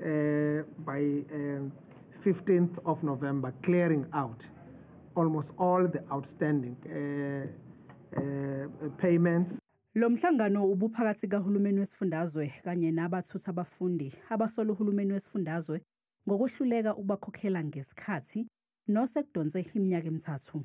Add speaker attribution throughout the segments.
Speaker 1: uh, by um, 15th of November, clearing out almost all the outstanding uh, uh, payments. Lo mhlangano
Speaker 2: ubuphakathi kahulumeni wesifundazwe kanye nabathutha abafundi abasola uhulumeni wesifundazwe ngokwehluleka ukubakhokhela ngesikhathi nosekudonse iminyaka emithathu.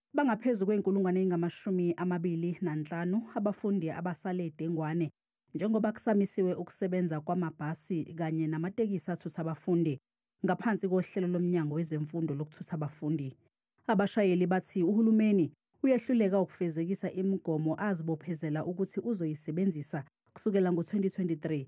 Speaker 3: Bangaphezu
Speaker 2: kwey'nkulungwane ey'ngamashumi amabili nanhlanu abafundi abasale dengwane njengoba kusamisiwe ukusebenza kwamabhasi kanye namatekisi athutha abafundi ngaphansi kohlelo lomnyango wezemfundo lokuthutha abafundi. Abashayeli bathi uhulumeni uyehluleka ukufezekisa imigomo azibophezela ukuthi uzoyisebenzisa kusukela ngo-2023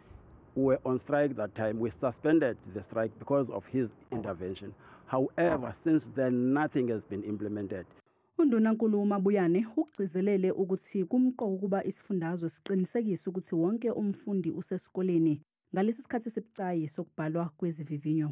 Speaker 3: We were on strike that time. We suspended the strike because of his intervention. However, since then, nothing has been implemented. UNdunankulu
Speaker 2: uMabuyane ukugcizelele ukuthi kumqoka ukuba isifundazwe siqinisekise ukuthi wonke umfundi usesikoleni ngalesi sikhathi esibucayi sokubhalwa kwezivivinyo.